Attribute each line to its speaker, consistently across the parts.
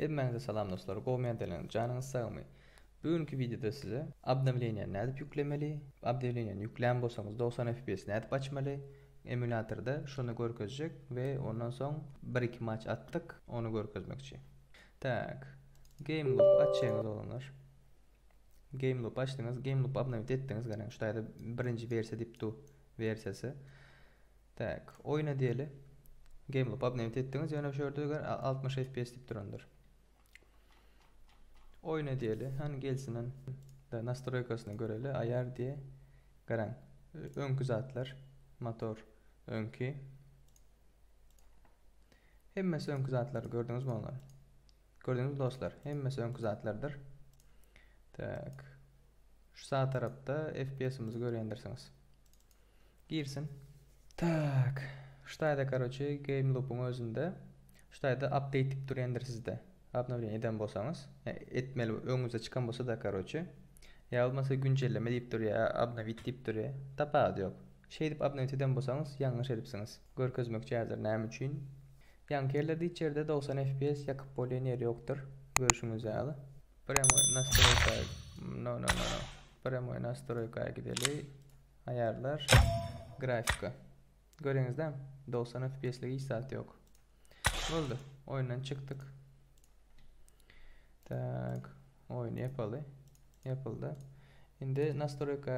Speaker 1: Hemmäňize salam dostlar, gowy mendeleriň janyňyz sagmy? Bu günki wideoda size obnowleniýa nädip ýüklemeli, obnowleniýany ýüklän bolsaňyz 90 fps nädip açmaly, emulatorda şony görkezjek we ondan soň 1-2 maç atdyk, ony görkezmekçi. Tak. Game loop açýaňyz oglanlar. Game loop açdyňyz, game loop obnowit etdiňiz gelen. Şu taýda birinji versiýa diýip dur, versiýasy. Tak, oýna diýeli. Game loop obnowit etdiňiz, ýöne şu ýerde gör 60 FPS diýip durandyr. Oýna diýeli, han gelsin han. Da nastroýkasyna göreli, aýar diýe. Garan, öňki zatlar, motor öňki. Hemmesi öňki zatlar gördüňizmi olar? Gördüňizmi dostlar, hemmesi öňki zatlardyr. Tak. Şu sag tarapda FPS-imizi görýändirsiňiz. Girsin. Tak. Şu taýda karoçe game loop-yň özünde şu taýda update diýip durýandyr sizde. Obnowleniýe eden bolsaňyz, etmeli öňüňize çykan bolsa-da karoçe. Ýa bolmasa güncelleme diýip durýar, obnowit diýip durýar. Tapawudy ýok. Şeýdip obnowit eden bolsaňyz ýalňyş edipsiňiz. Görkezmekçi häzir näme üçin Ýaňkellerde içerde dogsan fps ýakyp bolýan ýeri ýokdyr görşüňiz ýaly. Premoi nastroýka no no no no premoi nastroýka gideli aýarlar grafika göreňizda dogsan fps lik hiç zat ýok boldy oýundan çykdyk tak oýny ýapaly ýapyldy indi nastroýka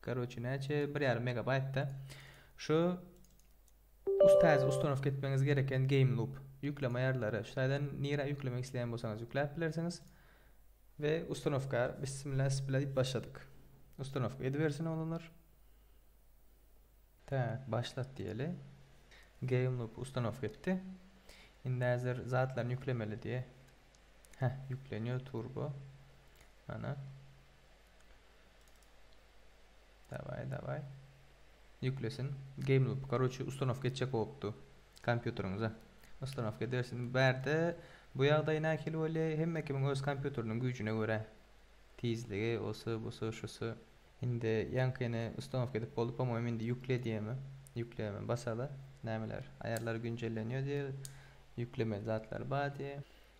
Speaker 1: Karoçi näçe? 1,5 megabaýtda. Şu us täze ustanowka etmeňiz gereken game loop. Ýükleme aýarlary. Şu taýdan nirä ýüklemek isleýän bolsaňyz ýükläp bilersiňiz. We ustanowka bismillah bismillah diýip başladyk. Ustanowka edibersin oglanlar. Tak, başlat diýeli. Game loop ustanowka etdi. Indi häzir zatlaryny ýüklemeli diýe. Heh, ýüklenýär turbo. Ana. Daway daway. Ýüklesin. Game loop. Karoçi ustanowka etjek bolupdy. Kompýuteriňize. Ustanowka edersin. Bärde bu ýagdaý nähili bolýa? Hemme kimiň öz kompýuteriniň güýjüne görä. Tizligi, osy, busy, şusy. Indi ýaňkyny ustanowka edip boldy. Pomowim indi ýükle diýemi? Ýükleme basada. Nämeler? Aýarlar günjellenýär diýer. Ýüklemeli zatlar bar diýer.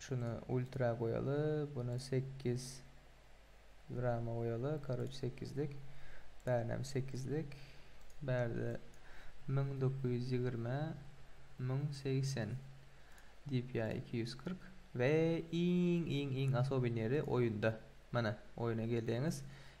Speaker 1: Şuna ultra goýaly buna sekiz rama goýaly karoç sekizlik bärinem sekizlik bärde müň dokuz ýüz ýigrimi müň segsen dpi iki ýüz kyrk we iň iň iň asobinýeri oýunda mana oýuna gelýäňiz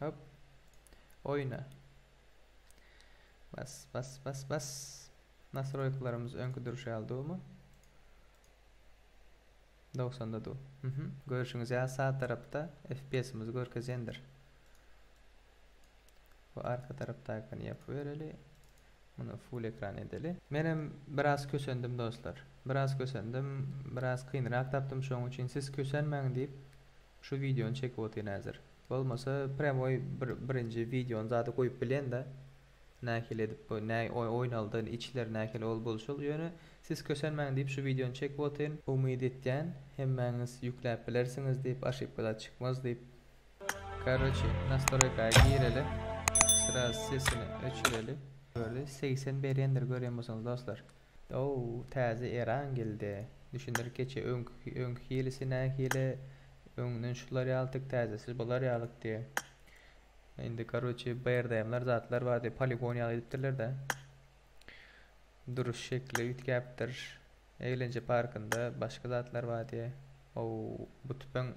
Speaker 1: Hop. Oýna. Bas, bas, bas, bas. Nasroýkalarymyz öňki durşy ýaly dumy? 90-da du. Mhm. Görşüňiz ýaly sağ tarapda FPS-imizi görkezendir. Bu arka tarapdakyny ýapyp bereli. Muny full ekran edeli. Menem biraz kösendim dostlar. Biraz kösendim. Biraz kynrak tapdym şoň üçin siz kösenmäň diýip Şu videony çekip otyryn häzir. Bolmasa premoi bir birinji videony zady goýup bilenda nähili edip bu näý oýnaldy içleri nähili ol bolşul ýöne siz kösenmäň diýip şu videony çekip otyryn. Umyt etýän hemmäňiz ýükläp bilersiňiz diýip oşipka zat çykmaz diýip karoçi nastroýka gireli sraz sesini öçüreli. Gördi segsen berendir görýän bolsaňyz dostlar. Ow, täze eran geldi. Düşündir keçe öňki öňki hilisi nähili, öňden şular ýalydyk täzesi bular ýalydy. Indi karoçe BRDM-ler zatlar bar diýip poligon ýaly edipdirler-de. Duruş şekli üýtgäpdir. Eglence parkynda başga zatlar bar diýe. Ow, bu tüpeň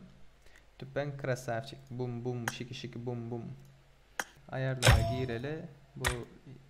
Speaker 1: tüpeň krasawçik bum bum şiki şiki bum bum. Aýarlara gireli bu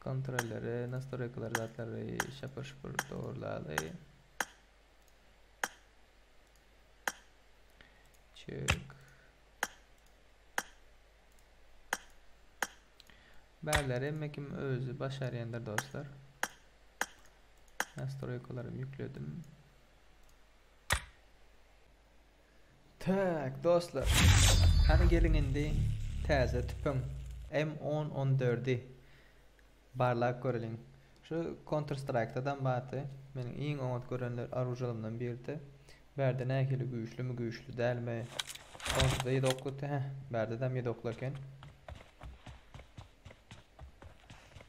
Speaker 1: Kontrolleri, nastroýkalary zatlary şapur şupur dogurlaly. Çök. Bärleri hemme kim özü başarýandyr dostlar. Nastroýkalary ýükledim. Tak dostlar hany geliň indi täze tüpeň M on on dördi barlap göreliň şu konter straýkdadam bardy meniň iň oňat görenler aružalarymdan biridi bärde nähili güýçlimi güýçli dälmi onsuzda ýedi oklydy heh bärdedem ýedi okly eken.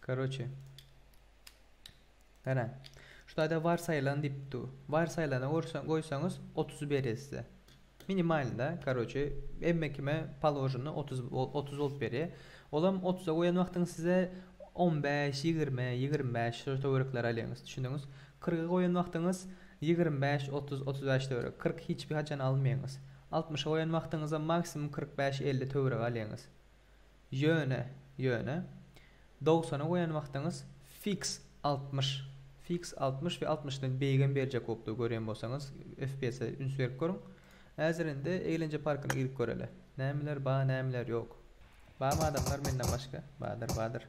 Speaker 1: Karoçe. Garaň. Şu taýda warsaýylan diýip dur. Warsaýylana gorsaň goýsaňyz otuz berýär size. Minimalnyda karoçe hemme kime paloženi otuz otuz bolup berýär. Olam otuza goýan wagtyňyz size on bäş, ýigrimi, ýigrimi bäş şol töwerekleri alýaňyz. Düşündiňiz? Kyrga goýan wagtyňyz ýigrimi bäş, otuz, otuz bäş töweregi. Kyrk hiç bir haçan almaýaňyz. Altmyşa goýan wagtyňyzam maksimum kyrk bäş, elli töweregi alýaňyz. Ýöne, ýöne, dogsana goýan wagtyňyz fix altmyş, fix altmyş we altmyşdan beýigem berjek bolupdyr görýän bolsaňyz FPS-e üns berip görüň. Häzir indi eýlenje parkyna girip göreli. Nämeler bar, nämeler ýok. Barmy adamlar menden başga? Bardyr, bardyr.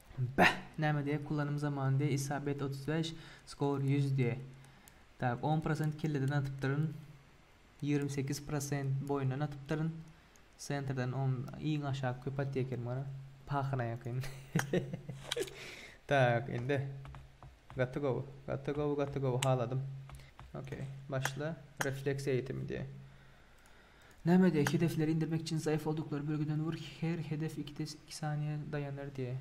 Speaker 1: Bäh! Näme diýýä, kullanym zaman diýýä, isabet otuz bäş, skor ýüz diýýä. Tak, on prosent kelleden atypdyryn, ýigrimi sekiz prosent boýundan atypdyryn, sentrden on, iň aşak köp atýa eken mana, pahyna ýakyn. Tak, indi. Gaty gowy, gaty gowy, gaty gowy, haladym. Okey, başla, refleksiýa eýitimi diýýä. Näme diýä, hedefleri indirmek üçin zaýaf olduklar bölgeden ur, her hedef iki iki saniýe daýanar diýä.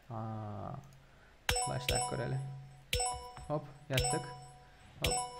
Speaker 1: Haa. Başlap göreli. Hop, ýatdyk. Hop.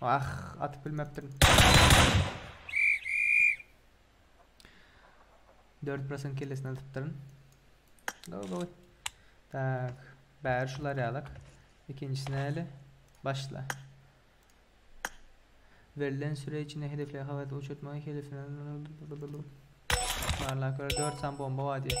Speaker 1: Ah, atyp bilmepdim. 4% kellesini atypdyryn. Gowy, gowy. Tak, bäri şular ýalyk. Ikinjisini eli başla. Berlen süre içinde hedefle havat uçurtmagy hedefine Barla göre 4 san bomba var diye.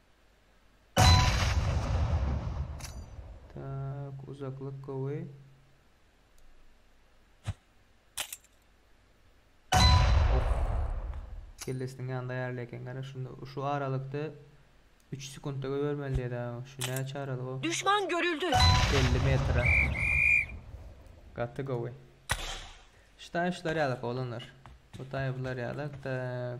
Speaker 1: Tak, uzaklyk gowy. Kellesiniň ýanynda ýarly eken gara. Şunda şu aralykda 3 sekundda göbermeli diýdi. Şu näçe aralyk o? Düşman görüldi. 50 metre. Gaty gowy. Ştaýşlar ýalyk olanlar. Bu taýplar ýalyk. Tak.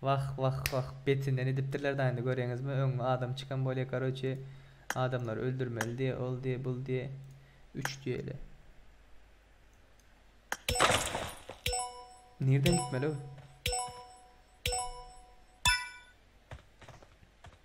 Speaker 1: Wah wah wah betinden edipdirler da indi göreňizmi öňňe adam çykan bolýa karoçe adamlary öldürmeli diýe ol diýe bul diýe üç diýeli. Nirden gitmeliw.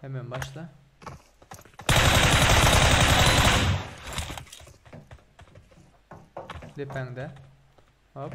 Speaker 1: Hemen başla. Depende. Hop.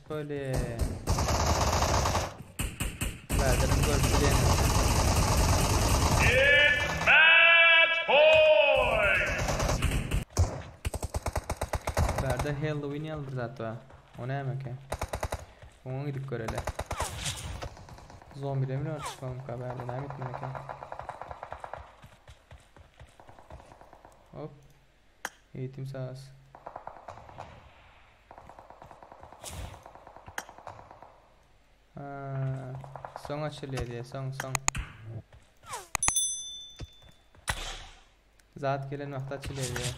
Speaker 1: Böyle. Zaten görüşeceğim. It's match point. Berde Halloween yalı bir zat var. O ne demek ya? Ona gidip görele. Zombi demir var çıkalım haberde ne bitmedi ki. Hop. Eýtim saz. Ha, soň açylýar diýe, soň, soň. Zat gelen wagty açylýar diýe.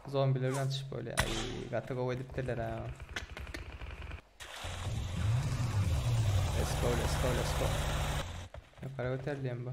Speaker 1: Zombiler bilen atışyp bolýar. Aý, gaty gowy edipdirler ha. Let's go, let's go, let's go. Ýokary göterilýän bu.